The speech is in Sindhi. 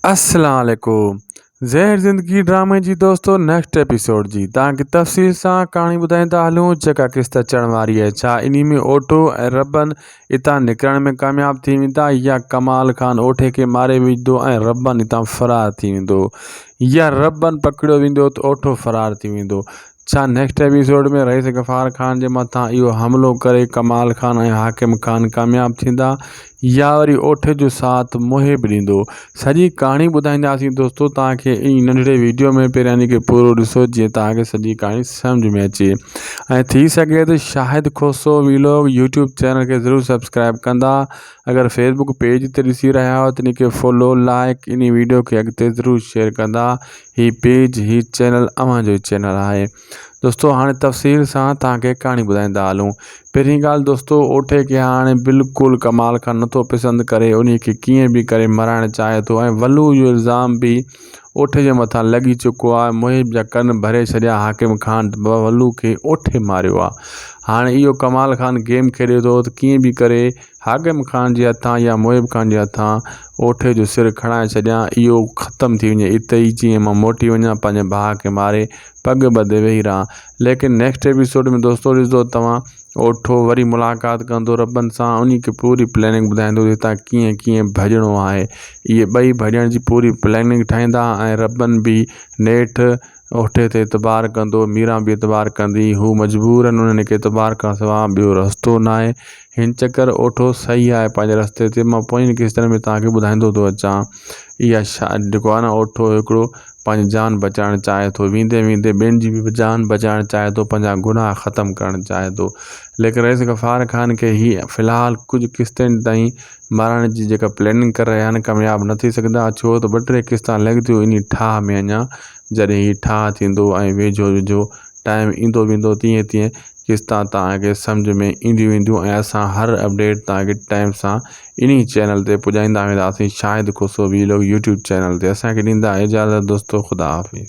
السلام عليڪم زهر زندگي ڊرامي جي دوستو نيڪسٽ ايپيسوڊ جي تان کي تفصيل سان ڪهاڻي ٻڌائين ٿا هلون جيڪا قسط اچڻ واري آهي ڇا انهي ۾ اوٺو ۽ ربن اتان نڪرڻ ۾ ڪامياب ٿي ويندا يا ڪمال خان اوٺي کي ماري وجهدو ۽ ربن اتان فرار ٿي ويندو يا ربن پڪڙيو ويندو ته اوٺو فرار ٿي ويندو ڇا نيڪسٽ ايپيسوڊ ۾ رئيس غفار خان جي مٿان اهو حملو ڪري ڪمال خان ۽ حاڪم خان ڪامياب ٿيندا يا وري اوٺ جو ساٿ محب ڏيندو سڄي ڪهاڻي ٻڌائينداسين دوستو توهان کي ان ننڍڙي ويڊيو ۾ پهريان جي پورو ڏسو جيئن توهان کي سڄي ڪهاڻي سمجھ ۾ اچي ۽ ٿي سگهي ته Shahid Khoso vlog YouTube channel کي ضرور سبسڪرائب ڪندا اگر فيسبوڪ پيج تي ڏسي رهيا آهيو ته ان کي فالو لائڪ ان ويڊيو کي اڳتي ضرور شيئر ڪندا ھي پيج ھي چينل اوھان جو چينل آھي دوستو ھاڻي تفصيل سان تان کي ڪھاڻي ٻڌائيندا ھلون پھرين ڳالھ دوستو اوٺي کي ھاڻي بلڪل ڪمال کان نٿو پسند ڪري انھي کي ڪيئن به ڪري مرائڻ چاھي ٿو ۽ ولو اھو الزام به اوٺي جي مٿان لڳي چڪو آھي محب جا ڪن ڀري ڇڏيا حاڪم خان ولو کي اوٺي ماريو آھي ھاڻي اھو ڪمال خان گيم کيڏي ٿو ته ڪيئن به ڪري حاڪم خان جي هٿان يا محب خان جي هٿان اوٺي جو سر کڻائي ڇڏيان، اهو ختم ٿي وڃي، اتي ئي جيئن مان موٽي وڃان، پنهنجي ڀاء کي ماري پڳ ٻڌي ويهي رهان. ليڪن نيڪسٽ ايپيسوڊ ۾ دوستو ڏسندو توهان اوٺو وري ملاقات ڪندو ربن سان انهي کي پوري پليننگ ٻڌائيندو ته هتان ڪيئن ڪيئن ڀڄڻو آهي اهي ٻئي ڀڄڻ جي پوري پليننگ ٺاهيندا ۽ ربن به نيٺ اوٺي تي اعتبار ڪندو ميران به اعتبار ڪندي هو مجبورن انهن کي اعتبار کان سوا ٻيو رستو ناهي هن چڪر اوٺو صحيح آهي پنهنجي رستي تي مان پوئين قسطن ۾ توهان کي ٻڌائيندو ٿو اچان اها شا جيڪو آهي نه اوٺو هڪڙو پنهنجي جان بچائڻ چاهي ٿو ويندي ويندي ٻين جي به جان بچائڻ چاهي ٿو پنهنجا گناهه ختم ڪرڻ چاهي ٿو ليڪن رئيس غفار خان کي هي في الحال ڪجهه قسطين تائين مارائڻ جي جيڪا پلاننگ ڪري رهيا آهن ڪامياب نه ٿي سگهندا ڇو ته ٻه ٽي قسطا لڳ ٿيون انهي ٺاهه ۾ اڃان جڏهن هي ٺاهه ٿيندو ۽ ويجهو ويجهو ٽائيم ايندو ويندو تيئن تيئن قسطا توهان کي سمجهه ۾ اينديون وينديون ۽ اسان هر اپڊيٽ توهان کي ٽائيم سان انهي چينل تي پڄائيندا وينداسين Shahid Khoso vlog YouTube channel تي اسان کي ڏيندا اجازت دوستو خدا حافظ.